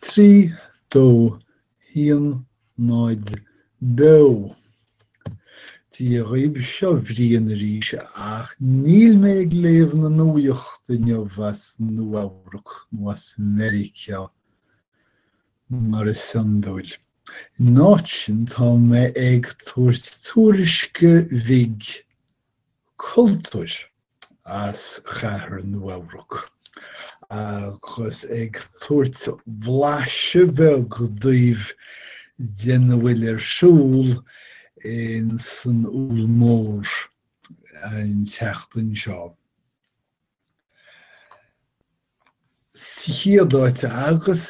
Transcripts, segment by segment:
3, 2, 1, 0, beo! Dia dhaoib seo Brian arís ach níl mé ag léamh na nuaíocht inniu as Nua-Eabhrac nó as Mheiriceá mar is iondúil. In áit sin tá mé ag tabhairt tuairisce bhig cultúir as Chathair Nua-Eabhrac agus ag tabhairt blaiseadh beag daoibh dena bhfuil ar siúl in san Úll Mór an tseachtain seo. Sa chéad áit agus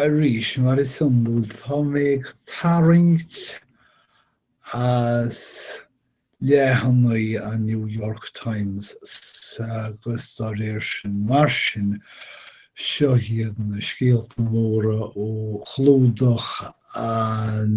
arís, mar is iondúil, tá mé ag tarraingt as leathanaigh an New York Times agus dá réir sin. Mar sin, seo iad na scéalta móra ó chlúdach an.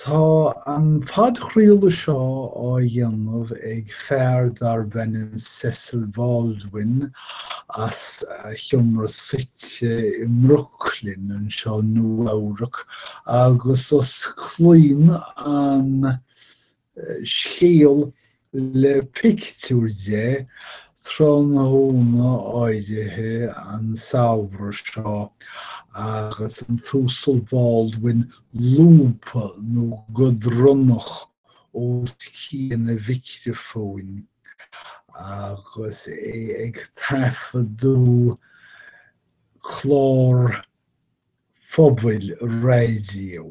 Tá an podchraoladh seo á dhéanamh ag fear darb ainm Cecil Baldwin as a sheomra suite i mBrooklyn, anseo Nua-Eabhrac, agus osclaíonn an scéal le pictiúr de, tráthnóna áirithe an samhradh seo agus an tUasal Baldwin lúbtha nó go dronnach os cionn a mhicreafóin agus é ag taifeadadh clár phobail raidió.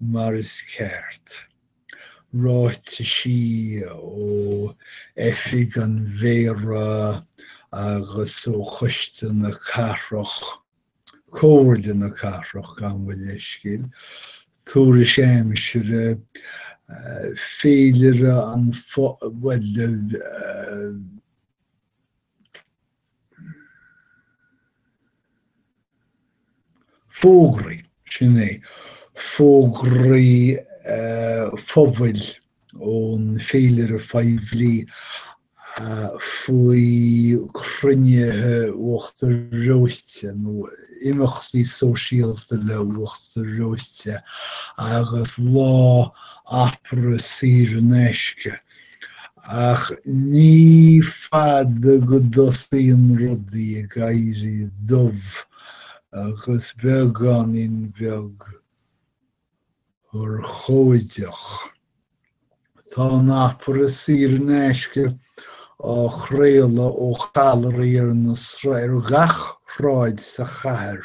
mar is ceart. Ráitisí ó Oifig an Mhéara agus ó Choiste na Cathrach, Comhairle na Cathrach, gabh mo leithscéal, tuairisc aimsire, féilire an phobail, bhuel, fógraí, sin é, fógraí phobail ón bhféilire phoiblí, faoi chruinnithe uachtar reoite nó imeachtaí sóisialta le huachtar reoite agus lá opera saor in aisce. Ach ní fada go dtosaíonn rudaí ag éirí dubh agus beagáinín beag urchóideach. Tá an opera saor in aisce á chraoladh ó challairí ar ar gach shráid sa chathair.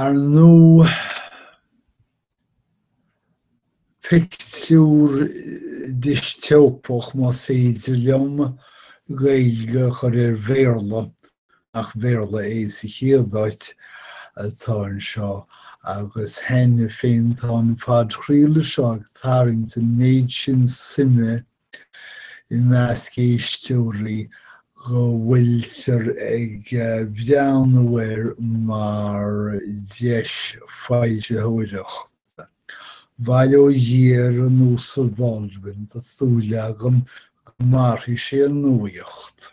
Ar ndóigh, pictiúr distópach, más féidir liom Gaeilge a chur ar Bhéarla, nach Béarla é sa chéad áit, atá anseo, agus cheana féin tá an phodchraoladh seo ag tarraingt an méid sin suime i measc éisteoirí go bhfuiltear ag breathnú air mar dheis foilsitheoireachta. Bail ó Dhia ar an Uasal Baldwin, tá súil agam go mairfidh sé a nuaíocht.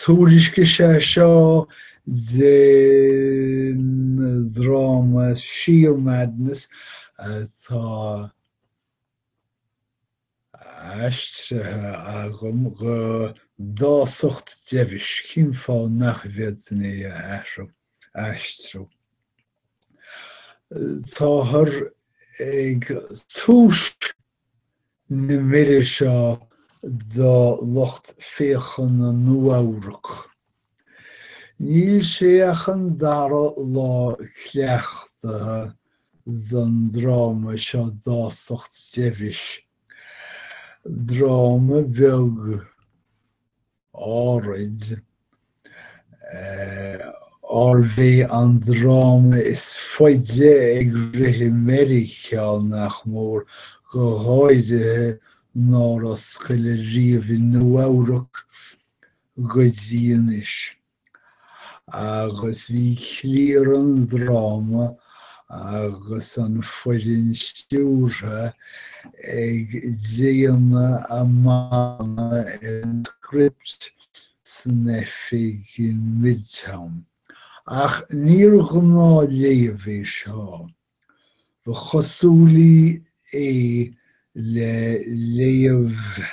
Tuairisc é seo den dráma Shear Madness atá aistrithe agam go Dásacht Deimhis, cén fáth nach bhféadfainn é a aistriú? Táthar ag tús na mire seo do lucht féachana Nua-Eabhrac. Níl sé ach an dara lá cleachtaithe don dráma seo Dásacht Deimhis, dráma beag, áirid, arbh é an dráma is faide ag rith i Meiriceá, nach mór, go háirithe nár oscail ariamh i Nua-Eabhrac go dtí anois. agus bhí cliar an dráma agus an foireann stiúrtha ag déanamh a marana ar an script san oifig in Midtown. Ach níor ghnáthléamh é seo. Ba chosúla é le léamh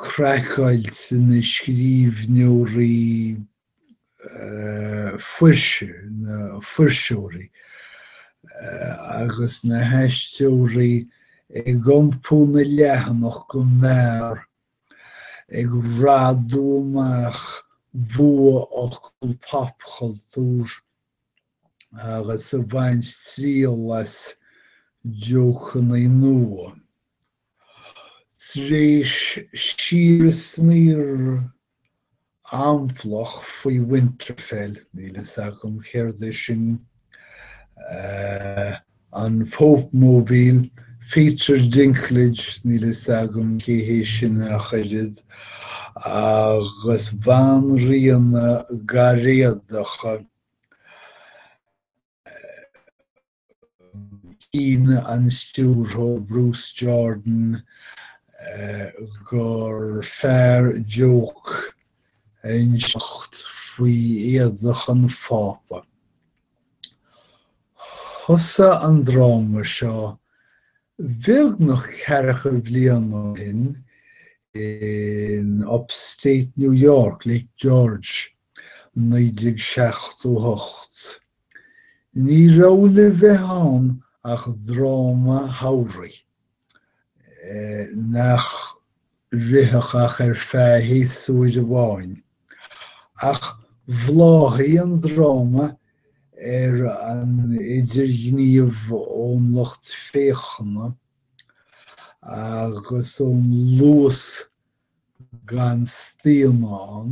craiceailt na scríbhneoirí fuirse, na fuirseoirí agus na haisteoirí ag iompú na leathanach go mear, ag radadh amach bua-fhocal popchultúir agus a bhaint triail as jócannaí nua. Tar éis síorshníomh amplach faoi Winterfell, níl fhios agam céard é sin, an Pope Mobile, Peter Dinklage, níl fhios agam cé hé sin ach oiread, agus banríonacha gáiréadacha. Chinn an stiúrthóir Bruce Jordan gur fearr jóc a inseacht faoi éadach an Phápa. Thosaigh an dráma seo beagnach ceathracha bliain ó shin in Upstate New York, Lake George, 1978. Ní raibh le bheith ann ach dráma samhraidh, nach rithfeadh ach ar feadh shéasúir amháin, ach bhláthaigh an dráma ar an idirghníomh ón lucht féachana agus ón luas gan staonadh ann.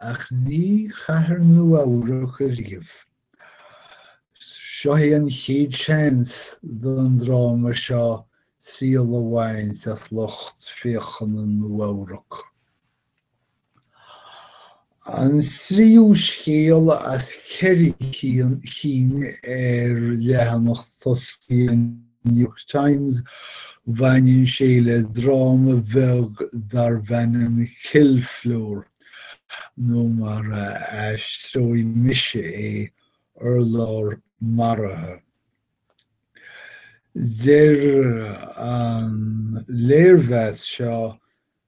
Ach ní i gcathair Nua-Eabhrac ariamh. Seo é an chéad seans don dráma seo triail a bhaint as lucht féachana Nua-Eabhrac. An tríú scéal as ceithre cinn ar leathanach tosaigh an. New York Times, bhaineann sé le dráma bheag darb ainm Kill Floor, nó mar a aistreoidh mise é, Urlár Maraithe. Deir an léirmheas seo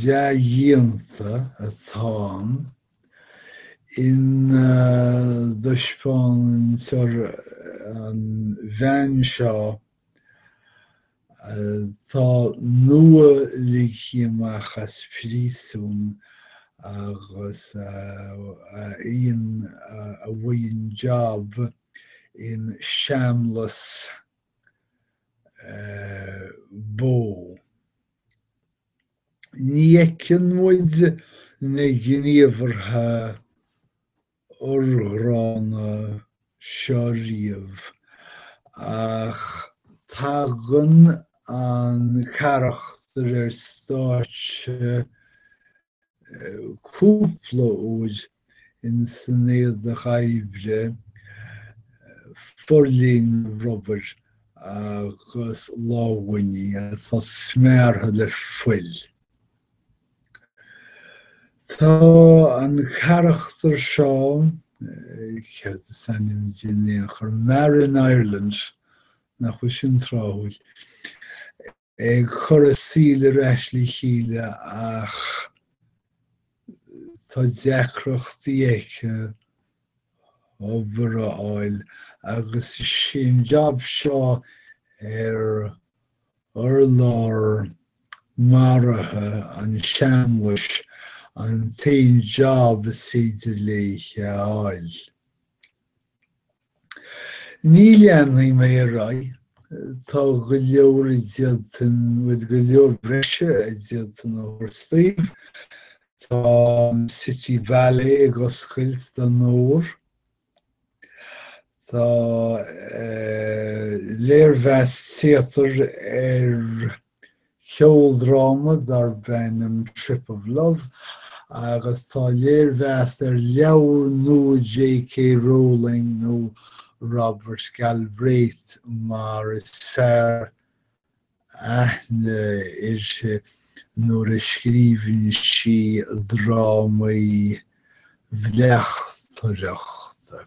dea-dhíonta atá ann ina dtaispeántar an bhean seo atá nua-ligthe amach as príosún agus a fhaigheann job in seamlas bó. Ní fheiceann muid na gníomhartha urghránna seo riamh ach tagann an carachtar ar stáitse cúpla uair ina cuid éadaí oibre, forbhríste rubair agus lámhainní atá smeartha le fuil. Tá an carachtar seo, céard is ainm di in aon chor, Marin Ireland, nach bhfuil sin tráthúil, ag cur a saoil ar ais le chéile ach tá deacrachtaí aici obair a fháil agus is é an jab seo ar urlár maraithe an seamlais an t-aon jab is féidir léi a fháil. Ní leanfaidh mé ar aghaidh, tá go leor a d'fhéadfainn, bhuel, go leor breise a d'fhéadfainn a thabhairt daoibh. Tá an City Ballet ag oscailt don fhómhar. Tá léirmheas téatair ar cheoldráma darb ainm Trip of Love agus tá léirmheas ar leabhar nua J.K. Rowling nó Robert Galbraith mar is fearr aithne uirthi nuair a scríobhann sí drámaí bleachtaireachta.